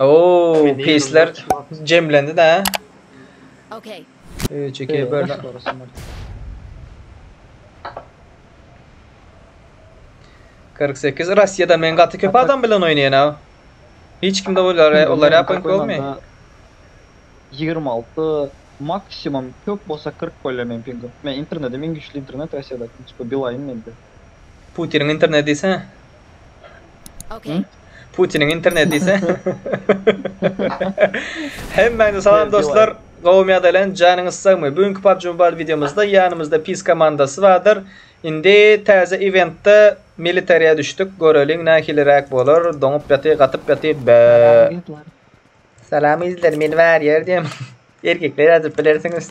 Oo, Meni pisler yıllar çıkmaz. cemlendi da. Okay. Üç, iki, Ee, bir. daş gorasyn ol. 48 Russiýada men gaty köp Hatta- adam bilen oýnaýan ha. Hiç kimde olar Şimdi olar men ýapyň köpmi? koymanda 26 maksimum köp bolsa 40 bolýar meniň pingim. Men internetim iň güçli internet Russiýadaky. Çünki Beeline mende. Putiniň interneti diýsene. Okay. Hı? Putiniň interneti ise. Hemmäňize salam dostlar. Gowumy ýa-da len, janyňyz sagmy? Bu günki PUBG Mobile wideomyzda ýanymyzda PIS komandasy bardyr. Indi täze ewentde militariýa düşdük. Göreliň nähiliräk bolar. Doňup ýaty, gatyp ýaty. Bä. Salam ýüzler. Salam ýüzler. Men warrior diýem. Erkekler ýazyp bilersiňiz.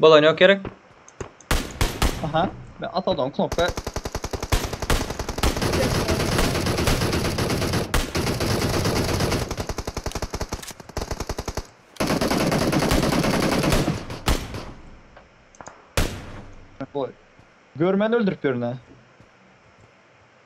Bolany yok gerek. Aha. Ben atadan knopka. Boy. Görmen öldürüp görüne.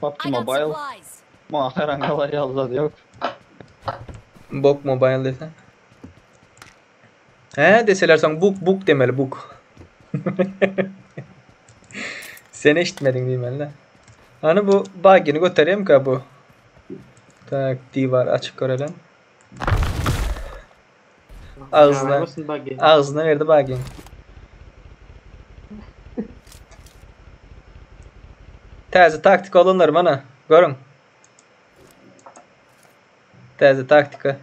PUBG Mobile maňa haýran galar ýazylady ýok. Bok mobile dese. He deseler soň buk buk demeli buk. Sen eşitmediň diýmeli-de. Hany bu bagini göterýemka bu. Tak diwar açyk görelen. Agzyna, agzyna berdi bagiň. Täze taktika olanlar mana, görüň. Täze taktika.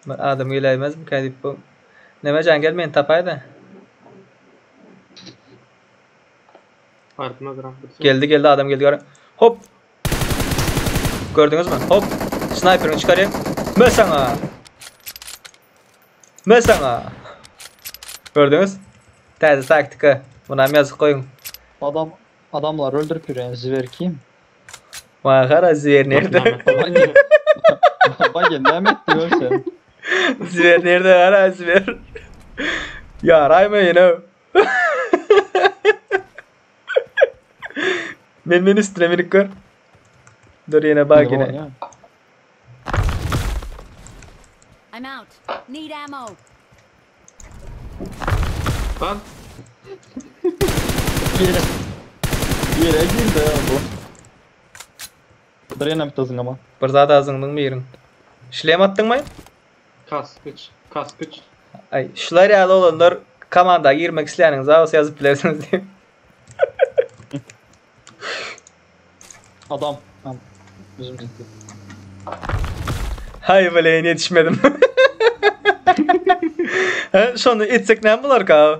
Bir adam geläýmez bu kädip bu. Neme jan gel meni tapaýda. Geldi geldi adam geldi görüň. Hop. Gördüňizmi? Hop. Snaýperiňi çykaryň. Mö saňa. Mö saňa. Gördüňiz? Täze taktika. Munam ýazyp goýuň. Adam adamlar öldürip ýören zwer kim? Maňa gara zwer nirde? Bagen näme etdi görsen. Zwer nirde gara zwer. Ýaraýma ýene. Men men üstüne minik gör. Dur yine bak yine. Oýna. I'm out. Need ammo. Lan. Yere. Yere girdi ya bu. Drenem tızın ama. Bir zada azındyň biriň. Şlem atdyň mı? Kaskyç, kaskyç. Ay, şular ýaly olanlar komanda girmek isleýäniňiz bolsa ýazyp bilersiňiz diýip. Adam. Adam. Bizim gitti. Hay bilen yetişmedim. He, şonu etsek ne bular ka?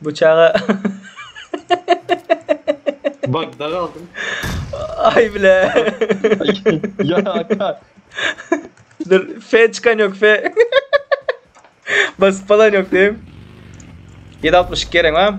Bu çaga Bagda galdym. Ay bile. ya Hakan. Dur F çıkan yok F. Basıp falan yok diyeyim. 762 gerek ha.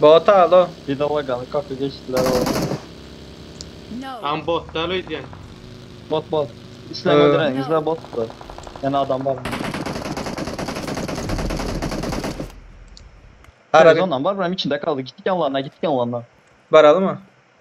Bota alo. Bize logaly kopy geçdiler oba. Am bot dal öýdýän. Bot bot. Isleň öldüreň, bizde bot bar. Ýene adam bar. Ara Rezondan bar, biram içinde kaldy. Gitdik ýanlaryna, gitdik ýanlaryna. Baralymy?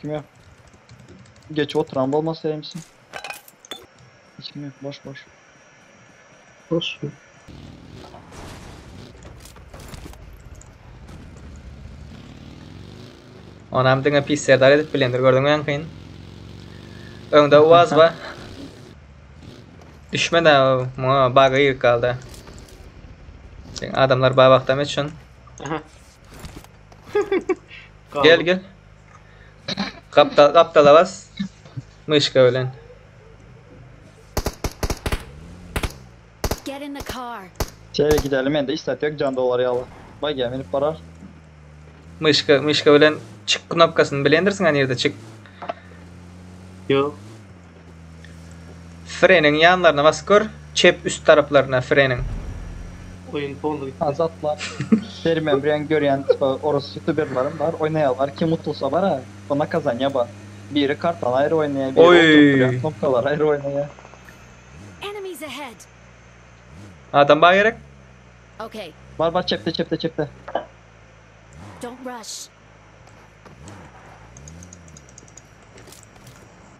Kim yok? Geç oturan bolmasa hemsi. Hiç kim yok. Boş boş. Boş. Onam diňe pis serdar edip bilendir gördüňmi ýaňkyn? Öňde Uaz bar. Düşme de muňa baga girip galdy. Sen adamlar babakdam üçin. Aha. Gel gel. Kaptal kaptala bas. Myşka bilen. Get in the car. Şeýle gideli mende hiç zat ýok jan dolar ýaly. Bagiýa minip barar. Myşka myşka bilen çyk knopkasyny bilendirsiň ha nirde çyk. Ýok. Freniň ýanlaryna basyp gör, çep üst taraplaryna freniň. Oýun poly gitdi. Azat bar. Bermän bir ýan görýän tipa orus ýutuberlaram bar oýnaýarlar kim utulsa bara bu nakazanýa bar biri kartany aýry oýnaýa biri oturyp durýan Oý. knopkalary aýry oýnaýa. Enemies ahead! Adam bar gerek. Okay. Bar bar çepde çepde çepde. Don't rush.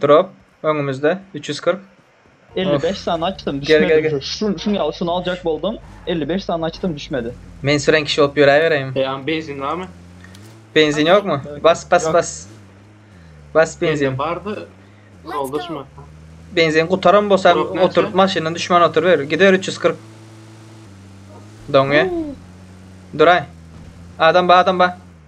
Drop öňümizde 340. 55 sany açdym düşmedi. Şun şun ýaly şuny aljak boldum. 55 sany açdym düşmedi. Men süren kişi bolup ýöräbereýin. Eýan benzin barmy? Benzin ýokmy? Bas bas bas. Bas benzin. Bardy. Doldurma. Benzin gutaran bolsa otur maşyndan düşman otur ber. Gider 340. Doňe. Duray. Adam ba adam ba.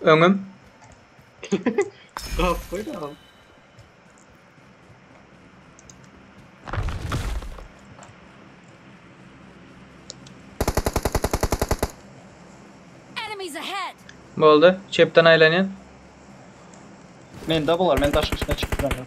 Öňüm. Gap koy da. Enemies ahead! Boldy. Çepden aýlanýan. Mende bular, men daşyň üstüne çykyp bilemok.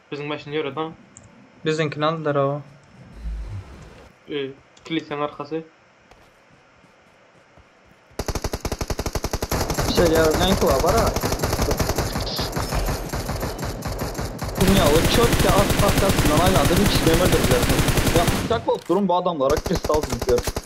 Biziň maşyny ýöredaň. Biziňkini aldylar o. E, kilisýaň arkasy. Şeýle ýaly näki bar, bara. Dünýä we çöpke at partasyndan aýlanda hiç kim hem öldürdiler sen. Ýa pyçak bolup durun bu adamlara kristal düzüp ýörüň.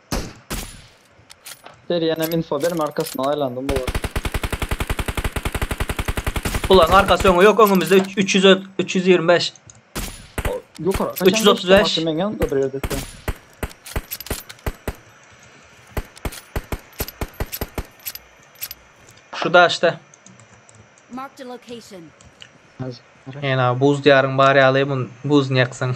Serýänem info berme arkasyndan aýlandym bularyň. Bularyň arkasy öňe ýok öňümizde üç- 300 ö- 325. Ýokara. 335. Meň ýanymda bir ýerde sen. Şu daşda. Marked a location. Ýene buz diýaryň bar ýaly mun buz ýaksaň.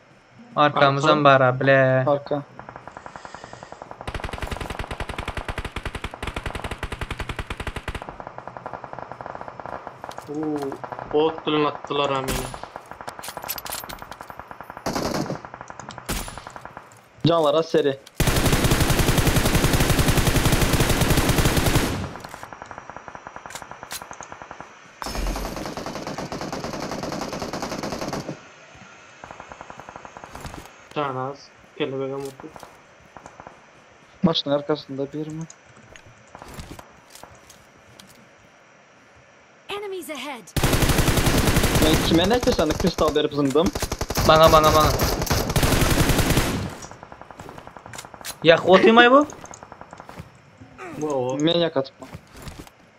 Arkamyzam bara bile. Arka. Uuu, ot bilen atdylar ha meni. Canlar az seri. Janaz kelebegem urkup. Maşynyň arkasynda birmi? Enemies ahead! Men kime näçe sany kristal berip zyňdym? Maňa maňa maňa. Ýakyp otymaý bu? Wow. Men ýakatypman.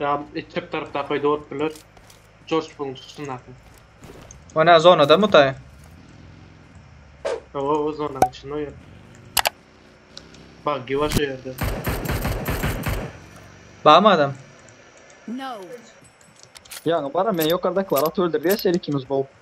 Ýa çep tarapdaky öýde bolup biler. Jorj buň çykyşyndaky. Onä zonada mu daýy? Owo o zonanyň içinde o ýer. Baggy bar şu ýerde. Barmy adam? No. Ýaňy baram men ýokardakylar atyp öldürdi ya şeýle ikimiz bolup.